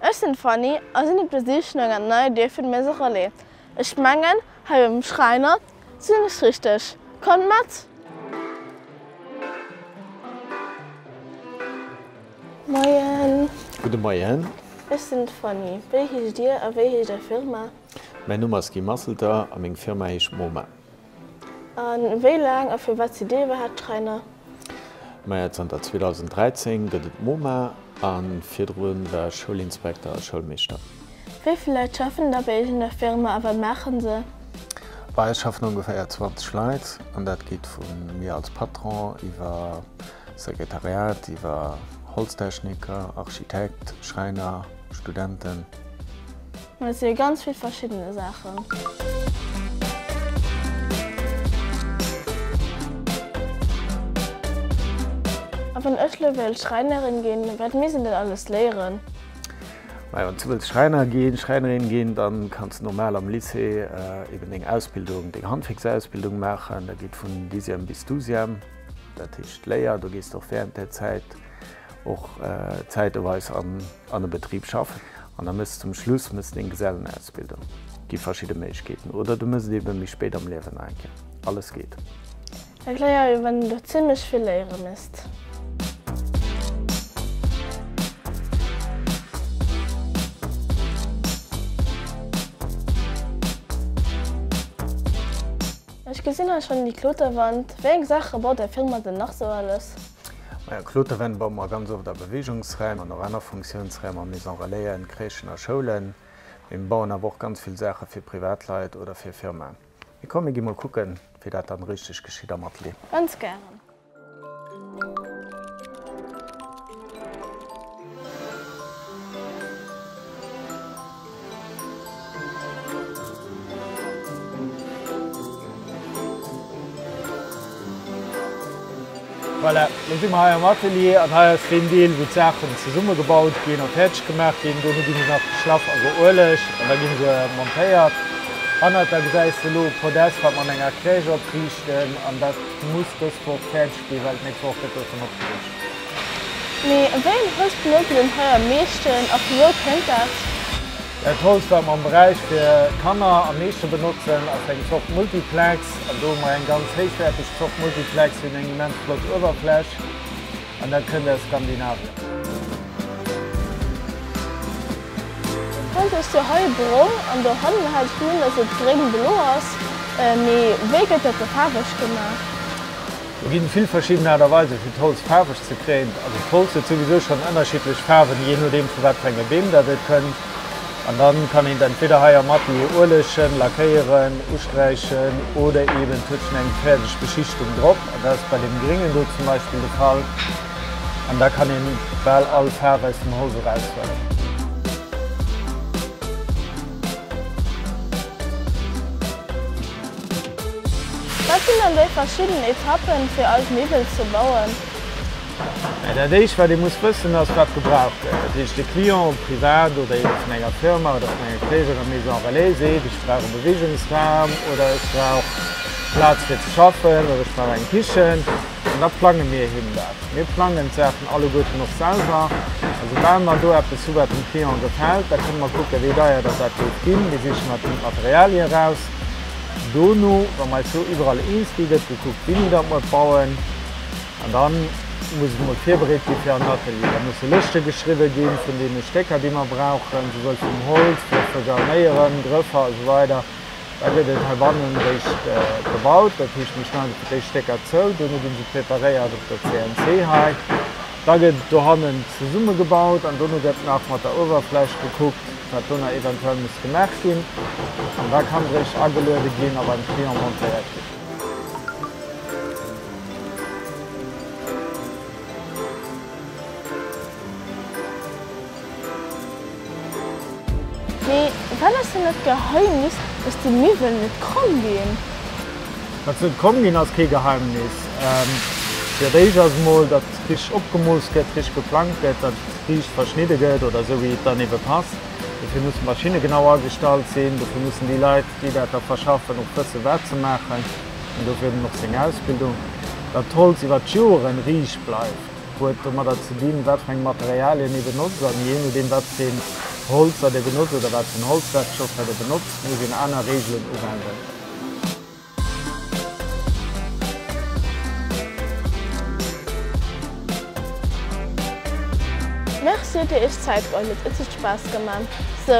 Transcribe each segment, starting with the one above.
Ech sinn d'Fanny a sinn op der Sich no enger neier Dier fir de Maison Relais. Ech mengen, hei beim Schräiner sinn ech richteg. Kommt mat! Moien! Gudde Moien! Ech sinn d'Fanny. Wéi heescht Dir a wéi heescht Är Firma? Mäin Numm ass Guy Masselter a meng Firma heescht MoMa. A wéi laang a firwat si dee iwwerhaapt Schräiner? Maja, zanter 2013 gëtt et d'MoMa a virdru war ech Schoulinspekter a Schoulmeeschter. Wéi vill Leit schaffen da bei Iech an der Firma a wat maachen se? Bei eis schaffen ongeféier 20 Leit an dat geet vu mir als Patron iwwer Sekretariat, iwwer Holztechniker, Architekt, Schräiner, Studenten. Mä et si jo ganz vill verschiddene Saachen. A wann ech elo wéilt Schräinerin ginn, wat misst een dann alles léieren? Mä wann s du wëlls Schräiner ginn, Schräinerin ginn, da kanns du normal am Lycée eben deng Ausbildung, deng Handwierksausbildung maachen. Dat geet vun Dixième bis Douzième, dat heescht d'Léier. Do gees du och während där Zäit och zäiteweis an. an e Betrib schaffen an da méchs zum Schluss méchs deng Gesellenausbildung, gi verschidde Méiglechkeeten oder du méchs et ebe méi spéit am Liewen eng Kéier. Alles geet. Erkläer jo wann du zimlech vill léiere méchs. Ech gesin hei schon déi Kloterwand, wéi eng Saache baut är Firma denn nach sou alles? Majo, Kloterwänn baue mer ganz oft a Beweegungsraim an och aner Funktiounsraimer, Maison relaisen, Crèchen a Schoulen. Mee mer bauen awer och ganz vill Saache fir Privatleit oder fir Firmaen. Mee komm, mir gi mol kucken, wéi dat dann richteg geschitt am Atelier. Ganz gären. Voilà, elo si mer hei am Atelier an hei ass deen Deel, wou d'Saachen zesummegebaut ginn a fäerdeg gemaach ginn. Dono gi se nach geschlaff a geuelegt an da gi se montéiert. Hannert der gesäis de elo Podest, wat mer an enger Crèche opriichten an dat muss dës Woch fäerdeg. Déi Welt nächst Woch gëtt dovun opgeregt. Mee wéi en Host benotzt een den Här am meeschten a vu wou kënnt dat? Dat Host wat mer am Beräich fir Kanner am meeschte benotzen ass eng Zort Multiplex. An do hu mer eng ganz héichwäerteg Zort Multiplex. Si hunn eng immens flott Uewerfläch an dat kënnt aus Skandinavien. D'Wand hues du hei brong an dohannen hat ech gemengt dass et gréng belo ass. Mee wéi gëtt dat do faarweg gemaach? Et ginn vill verschidden Aart a Weisen fir d'Holz faarweg ze kréien. Also d'Holz huet souwisou schonn ënnerschiddlech Faarwen, jee nodeem vu wat fir enge Beem dat et kënnt. An da kann een et entweder hei am Atelier uelechen, lackéieren, usträichen oder eeben et huet schonn eng fäerdeg Beschichtung drop. An dat ass bei deem gréngen do zum Beispill de Fall. An da kann een bal all Faarf aus dem Holz eraushuelen. Wat sinn dann déi verschidden Etappen, fir eis Miwwel ze bauen? Dat éischt, wat ee muss wëssen, ass, wat gebraucht gëtt. Dat heescht, de Client, ob privat oder eben vun enger Firma oder vun enger gréisserer Maison relais, seet, Ech brauch e Beweegungsraum oder ech brauch Plaz fir ze schaffen oder ech brauch eng Kichen. An da plange mir him dat. Mir plangen d'Saachen alleguerten och selwer. A soubal mer do eppes hu wat dem Client gefält, da kënne mer kucken, wéi deier datt dat géif ginn. Mir sichen mat him d'Materialie raus. Dono, wa mer eis do iwwerall eens gi, gëtt gekuckt, wéini datt mer et bauen. An da muss et mol virbereet gi fir an den Atelier. Da musse Lëschte geschriwwe gi vun deene Stécker, déi mer brauchen, souwuel vum Holz wéi och vu Garnéieren, Grëffer a sou weider. Da gëtt et heibannen eréischt gebaut. Dat heescht, mir schneide fir d'éischt Stécker zou, dono gi se preparéiert op der CNC hei. Da gëtt et dohannen zesummegebaut an dono gëtt nach mat der Uewerfläch gekuckt. wat dono eventuell muss gemaach ginn an da kann d'Réischt ageluede ginn a beim Client montéiert ginn. Mee wat ass dann dat Geheimnis, dass déi Miwwelen net kromm ginn? Dass se net kromm ginn ass kee Geheimnis. Fir d'éischt ass emol, dass richteg opgemooss gëtt, richteg geplangt gëtt. riicht verschnidde gëtt oder esou wéi et dann ebe passt. Dofir musse Maschinne genau agestallt sinn, dofir mussen déi Leit, déi dat da verschaffen, och wëssen, wat se maachen. An dofir huet en och seng Ausbildung. Datt d'Holz iwwer d'Joren riicht bleift, huet domadder ze dinn, wat fir eng Materialien ee benotzt. An jee nodeem, wat fir een Holzer dir benotzt oder wat fir en Holzwerkstoff dat ee benotzt, muss een aner Reegelen uwenden. Merci dir iech Zeit geholl hutt, et hutt Spass geman. So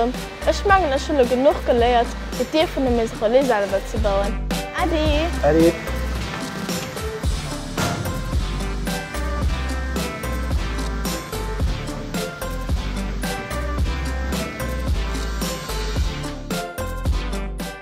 ech mengen ech hunn lo genuch geléiert fir d'Dier vun der Maison Relais selwer ze bauen. Äddi! Äddi!